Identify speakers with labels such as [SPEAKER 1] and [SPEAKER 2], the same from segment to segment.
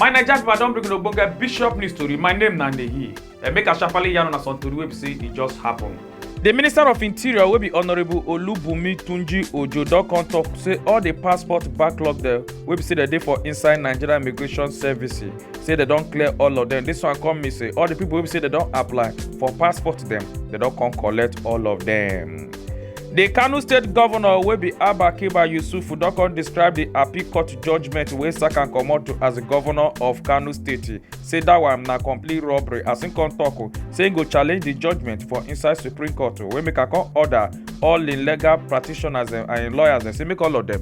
[SPEAKER 1] my naija pipo i don bring una ogbonge bishop news tori my name na ndehi dem make i sharparly yarn una some tori wey be say e just happen. di minister of interior wey be honourable olubunmi tunji ojo don come tok say all di passport backlog dem wey be say dem dey for inside nigeria immigration service say dem don clear all of dem dis one come mean say all di pipo wey be say dem don apply for passport dem dem don come collect all of dem. di kano state govnor wey be abba kiba yusufu don come describe di appeal court judgement wey sack am comot as di govnor of kano state say dat one na complete robbery as im come tok say im go challenge di judgement for inside supreme court wey make am come order all im legal practitioners and im lawyers say make all of dem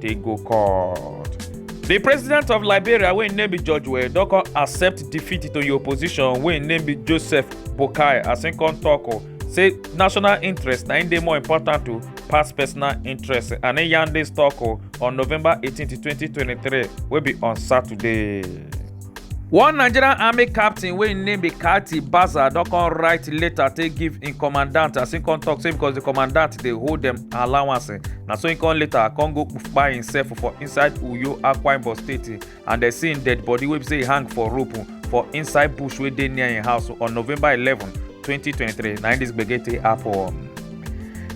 [SPEAKER 1] take go court. di president of liberia wey im name be george weah don come accept defeat to im opposition wey im name be joseph boakai as im come tok o say national interest na im dey more important o pass personal interest and im yarn dis tok o on november 18 2023 wey be on saturday. one nigerian army captain wey im name be kati baza don come write letter take give im commandant as im come talk say because di commandant dey hold dem allowance eh, na so im come later come go kpai himself for inside uyo akwa ibom state eh, and dem see im dead body wey be say e hang for rope eh, for inside bush wey dey near im house on november eleven 2023 na im dis gbege take happen.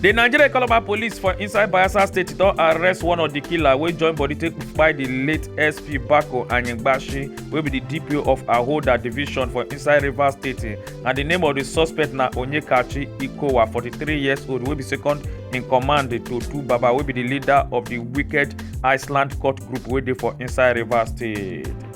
[SPEAKER 1] di nigeria economic police for inside bayelsa state don arrest one of di killer wey join body take kpai di late sp bako anyigbashi wey be di dpo of ahoda division for inside rivers state and di name of di suspect na onyekachi ikowa 43 years old wey be second in command to two baba wey be di leader of di wicked iceland court group wey dey for inside rivers state.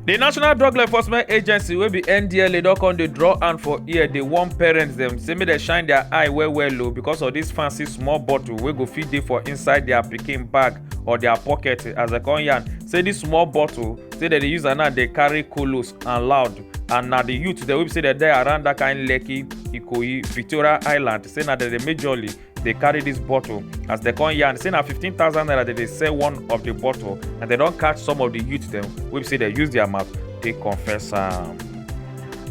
[SPEAKER 1] di national drug law enforcement agency wey be ndla don come dey draw hand for ear dey warn parents dem say make dem shine their eye well well o oh, because of this fancy small bottle wey go fit dey for inside their pikin bag or their pocket as dem come yarn say this small bottle say dem dey use am now dey carry kolos and loud and na the youth dem wey be say dem dey around that kind lekki ikoyi victoria island say na dem dey majorly dey carry dis bottle as dem come yarn say na 15000 naira dem dey sell one of di bottle and dem don catch some of di youth dem wey be say dem use their mouth take confess am.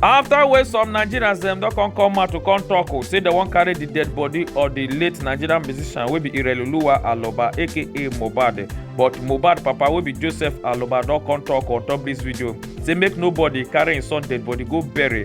[SPEAKER 1] afta wey some nigerians dem don come come out to come tok o say dem wan carry di dead body of di late nigerian musician wey be ireloluwa aloba aka mohbad but mohbad papa wey be joseph aloba don come tok on top dis video say make nobody carry im son dead body go bury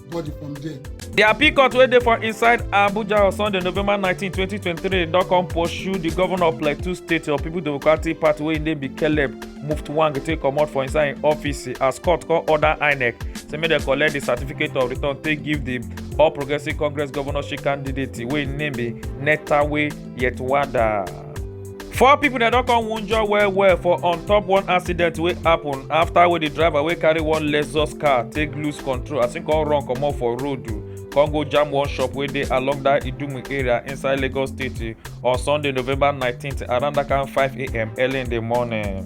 [SPEAKER 1] body from there. di appeal court wey dey for inside abuja on sunday november nineteen twenty twenty three don come pursue di governor of plateau state of people democratic party wey im name be caleb muftwang take comot for inside im office as court come order inec say make dem collect di certificate of return take give di all progressives congress governorship candidate wey im name be netawe yetwada. four pipo dem don come wunjure well well for on top one accident wey happen afta wey di driver wey carry one lexus car take lose control as im come run comot for road come go jam one shop wey dey along dat idumu area inside lagos state on sunday november 19 around dat kind 5am early in di morning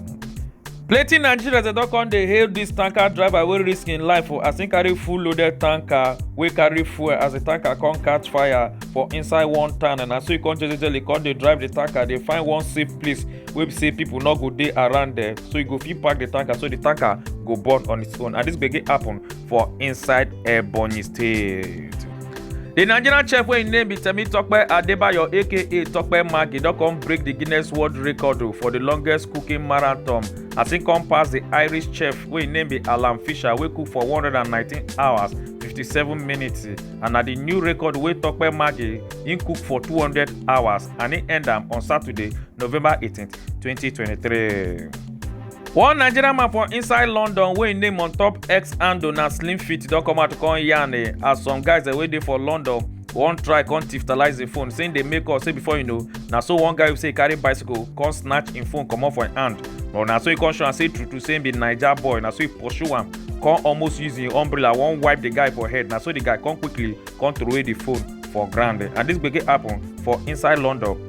[SPEAKER 1] plenty nigerians dem don come dey hail dis tanker driver wey risk im life for as im carry full loaded tanker wey carry fuel as di tanker come catch fire for inside one town and as so e come jejely come dey drive di tanker dey find one safe place wey be say pipo no go dey around there so e go fit park di tanker so di tanker go burn on its own and dis gbege happen for inside ebonyi state. The Nigerian chef wey im name be Temitope Adebayo aka Tope Maggi don come break the Guinness World Record o for the longest cooking marathon as im come pass the Irish chef wey im name be Alan Fisher wey cook for 119 hours 57 minutes and na the new record wey Tope Maggi im cook for 200 hours and im end am on Saturday, November 18, 2023. one nigerian man for inside london wey im name on top x handle na slim fit don come out to come yarn eh, as some guys eh, wey dey for london wan try come tiftalize im phone say im dey make call say before you know na so one guy wey say e carry bicycle come snatch im phone comot for im hand but na so e come show am say true true say im be naija boy na so e pursue am come almost use im umbrella wan wipe the guy for head na so the guy come quickly come throway the phone for ground eh, and this gbege happen for inside london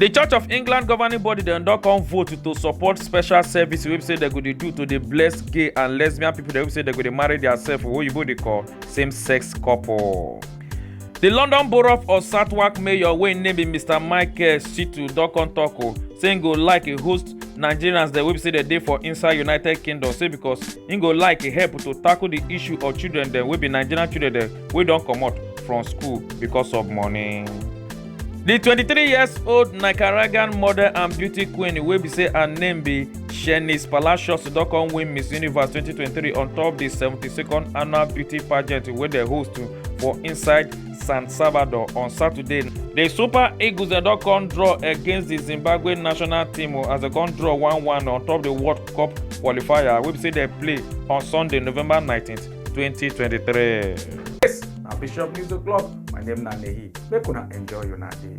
[SPEAKER 1] di church of england governing body dem don come vote to support special service wey be say dem go dey do to dey bless gay and lesbian pipo dem wey be say dem go dey marry diasef wey oyibo dey call same sex couple. di london borough of southwark mayor wey im name be mr michael shitu don come tok o say im go like e host nigerians dem wey be say dem dey for inside united kingdom say becos im go like e help to tackle di issue of children dem wey be nigerian children dem wey don comot from school becos of money. di 23 years old nicaraguan model and beauty queen wey be say her name be shanice palacios don come win miss universe 2023 on top di 72nd annual beauty pageant wey dem host for inside san salvador on saturday di super eagles dem don come draw against di zimbabwe national team as dem come draw 1-1 on top di world cup qualifier wey be say dem play on sunday november 19th. 2023. Yes, na Bishop News O'Clock. My name na Nehi. Make una enjoy una day.